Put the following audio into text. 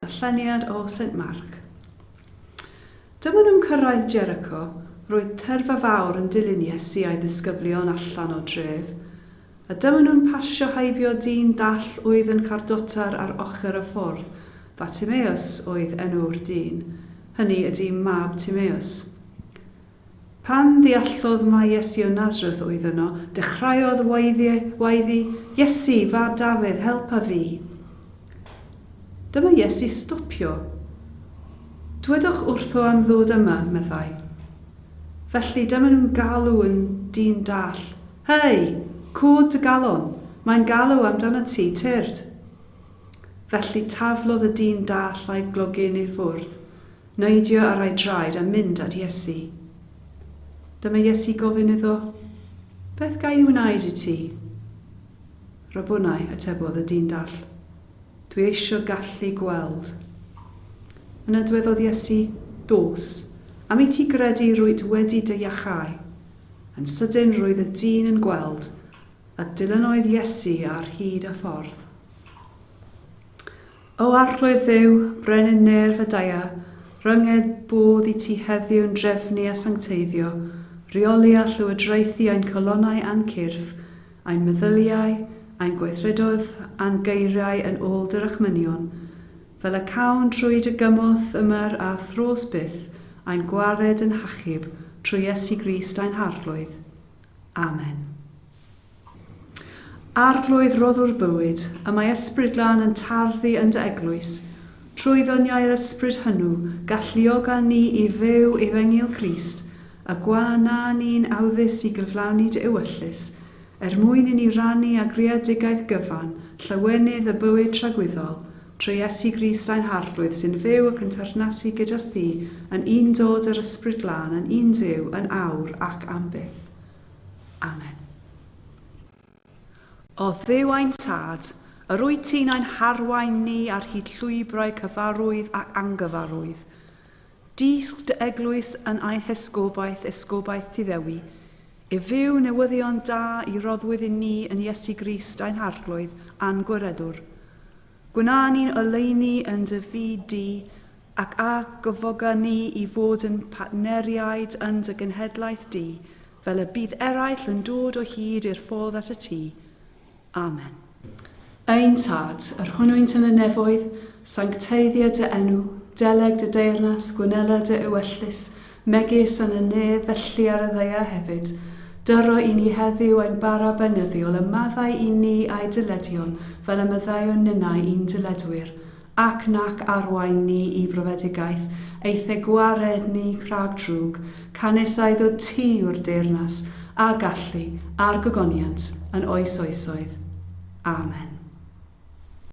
Darlleniad o Saint Mark. Dyma nhw'n cyrraedd Jericho, roedd tyrfa fawr yn dilyn Iesu a'i ddisgyblion allan o dref, a dyma nhw'n pasio heibio dyn dall oedd yn cardotar ar ochr y ffordd, Bartimeus oedd enw'r dyn, hynny ydi mab Timeus. Pan ddeallodd mai Iesu o Nazareth oedd yno, dechreuodd waeddi, Iesu, fab Dafydd, helpa fi! Dyma Iesu stopio. Dwedwch wrtho am ddod yma, meddai. Felly dyma nhw'n galw yn dyn dall, Hei! Cod dy galon! Mae'n galw amdanat ti, tyrd! Felly taflodd y dyn dall a'i glogyn i'r fwrdd. Neidio ar ei draed a mynd at Iesu. Dyma Iesu gofyn iddo, Beth ga i wneud i ti? Rabboni, atebodd y dyn dall, dwi eisio gallu gweld. Yna dwedodd Iesu, Dos, am i ti gredu rwyt wedi dy iachau. Yn sydyn roedd y dyn yn gweld, a dilynodd Iesu ar hyd y ffordd. O Arglwydd Dduw, Brenin Nêr Fedaia, rhynged bodd i ti heddiw yn drefnu a sancteiddio, rheoli a llywodraethu ein calonnau a'n cyrff, ein meddyliau, ein gweithredoedd a'n geiriau yn ôl dy rachmynion, fel y cawn trwy dy gymorth ymer a thros byth, ein gwared yn hachub trwy Iesu Grist ein Harglwydd. Amen. Arglwydd rhoddwr bywyd, y mae Ysbryd Glân yn tarddu yn dy eglwys, trwy ddoniau'r Ysbryd hynw, galluoga ni i fyw efengyl Crist, y gwa na ni'n awyddus i gyflawni dy ewyllys, er mwyn i ni rannu â greadigaeth gyfan llawenydd y bywyd tragwyddol, trwy Iesu Grist ein Harglwydd sy'n fyw ac yn teyrnasu gyda thi yn un dod yr Ysbryd Glân yn un Duw yn awr ac am byth. Amen. O Dduw ein Tad, yr wyt ti'n ein harwain ni ar hyd llwybrau cyfarwydd ac angyfarwydd. Dysg dy eglwys yn ein hesgobaeth, esgobaeth Tuddewi, i fyw newyddion da i roddwyd i ni yn Iesu Grist ein harglwydd a'n gwiredwr. Gwna ni'n oleuni yn dy fyd di, ac a gofoga ni i fod yn partneriaid yn dy genhedlaeth di, fel y bydd eraill yn dod o hyd i'r ffordd at y tŷ. Amen. Ein Tad, yr hwnnwynt yn y nefoedd, sancteiddio dy enw, deleg dy deyrnas, gwnela dy ewyllys, megis yn y ne felly ar y ddaear hefyd, dyro i ni heddiw ein bara beunyddiol y maddau i ni a'i dyledion fel y maddeuwn ninnau i'n dyledwyr, ac nac arwain ni i brofedigaeth eithe gwared ni rhag drwg, canys a iddo ti yw'r deyrnas, a gallu, a'r gogoniant, yn oes oesoedd. Amen.